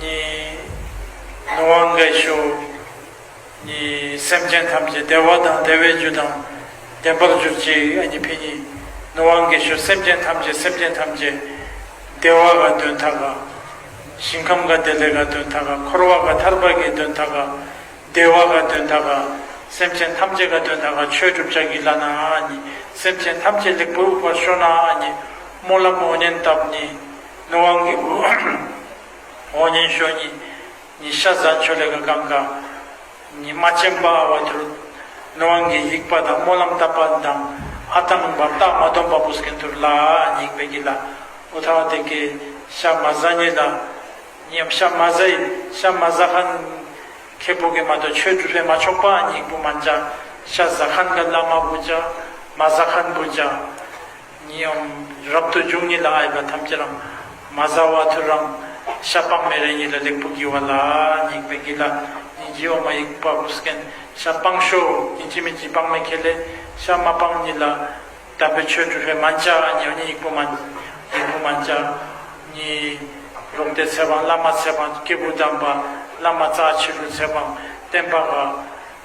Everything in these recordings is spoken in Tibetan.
གཉིས། ནུ་བ་འགའི་ཤུགས། གཉིས། སེམས་ཅན་ཐམས་ཅད་བདེ་བ་དང་བདེ་བའི་རྒྱུ་དང་ལྡན་པར་གྱུར་ཅིག་ཨ་ཉི་བྷི་གཉིས། ནུ་བ་འགའི་ཤུགས་སེམས་ཅན་ཐམས་ཅད་སེམས་ཅན་ཐམས་ཅད། བདེ་བ་དགའ་སྟོན་མཐའ་དགའ། ཞིང་ཁམས་དགའ་བདེ་ལེགས་དགའ་སྟོན་མཐའ་དགའ་འཁོར་བ་དགའ་ཐར་པ་དགེ་སྟོན་མཐའ་དགའ། བདེ་བ་དགའ་སྟོན་མཐའ་དགའ། སེམས་ཅན་ཐམས་ཅད་དགའ་སྟོན་མཐའ་དགའ་ཆོས་སྒྲུབ་ལྕགས་ཀྱི་བླ་ན་ཨ་ཉི། སེམས་ཅན་ཐམས་ཅད་ལེགས་པར་དབུལ་བར་ཤོག་ན་ཨ་ཉི། སྨོན་ལམ་ཨོ་ཉན་སྟབས་གཉིས། ནུབ་དབང་གི་བུ། འོག་ཉན་ཞོ་གཉིས། ཉི་ཤ་ཟ་མཆོད་ལས་ཀ་གམ་ཀ། ཉི་མ་སྤྱན་དཔའ་ཨ་བ་ཏུར། ནུབ་དབང་གི་དབྱིག་པ་དང་སྨོན་ལམ་བཏབ་པ་དང་ཨ་ཐང་འབར་སྟག་མ་སྡོམ་པ་པོ་སྐན་ཐུར་ལ་ཉིག་པའི་གྱི་ལ་ཨུ་ཐ་བ་དེ་ཀའི་ཤ་མ་ཟ་ཉི་ལ་ཉམ་ཤ་མ་ཟ་ཡི་ཤ་མ་ཟ་ཁན་ཁའི་བུ་གི་མ་དོ་ཆོས་དྲུག་ལྷས་མ་ཆོག་པ་ཨ་ཉིག་བུ་མ་འཇའ་ཤ་ཟ་ཁན་ག་ལ་མ་བུ་འཇའ་མ་ཟ་ཁན་བུ་འཇའ། ཉིའམ་རབ་ཏུ་འབྱུང་ཉིད་ལ་ཨ་ཡིག་པ་ཐམས་ཅད་རང་མ་བཟའ་བ་ཐུར་རང་ཤ་སྤངས་མེ་རེ་ཉིད་ལ་ལེགས་པོ་བགྱི་བ་ལ་ཉིད་ཡིག་པའི་དགེ་ལ་ཉིད་བགྱི་བ་མ་ཡིག་པ་བུ་སྐན་ཤ་སྤངས་ཤོ་ཉིད་བགྱི་མི་བགྱི་སྤངས་མེ་ཁེ་ལས་ཤ་མ་སྤངས་ཉིད་ལ་དམ་པའི་ཆོས་བྲུ་བྷེ་མ་འཇའ་ཉི་ཨ་ཉིད་ཡིག་པོ་མ་ཡིག་པོ་མ་འཇའ་ཉི་རོག་ཏའི་ཚེ་སྤངས་བླ་མ་ཚེ་སྤངས་སྐྱེས་བུ་དམ་པ་བླ་མ་རྩ་ཕྱི་བྲུ་ཚེ་སྤངས་བསྟན་པ་དགའ།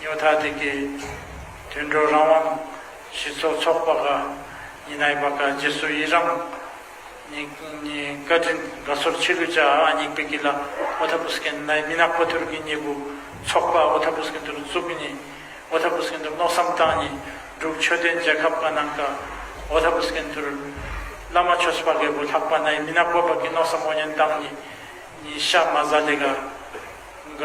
ཉོ་ཐ་དེ་གའི་དུད་འགྲོ་རང་དབང་སྤྱི་ཚོགས་ཚོགས་པ་ཀ་ཉི་ནའི་པ་ཀ་རྗེ་སུ་ཡི་རང་ཉིདཀ་དྲིན་དགའ་ཚོར་ཆི་ལུ་ཅ་ཨ་ཉིག་པི་ཀི་ལ་ཨོ་ཐ་པུ་སི་ཀན་ནའི་མི་ནག་པོ་ཐུར་ཀི་གཉིས་པུ་ཚོགས་པ་ཨོ་ཐ་པུ་སི་ཀན་ཏུར་ཙུ་ཀི་གཉིས་ཨོ་ཐ་པུ་སི་ཀན་ཏུར་མནོ་བསམ་བཏང་གཉིས་སྒྲུབ་ཆོས་ལྡན་རྒྱལ་ཁབ་ཀ་ནང་ཀ་ཨོ་ཐ་པུ་སི་ཀན་ཏུར་བླ་མ་ཆོས་པ་ཀའི་བུ་ལྷག་པ་ནའི་མི་ནག་པོ་པ་ཀི་མནོ་བསམ་ཨོ་ཉན་བཏང་གཉིས་ཤ་མ་ཟ་ལེ་ག་ག།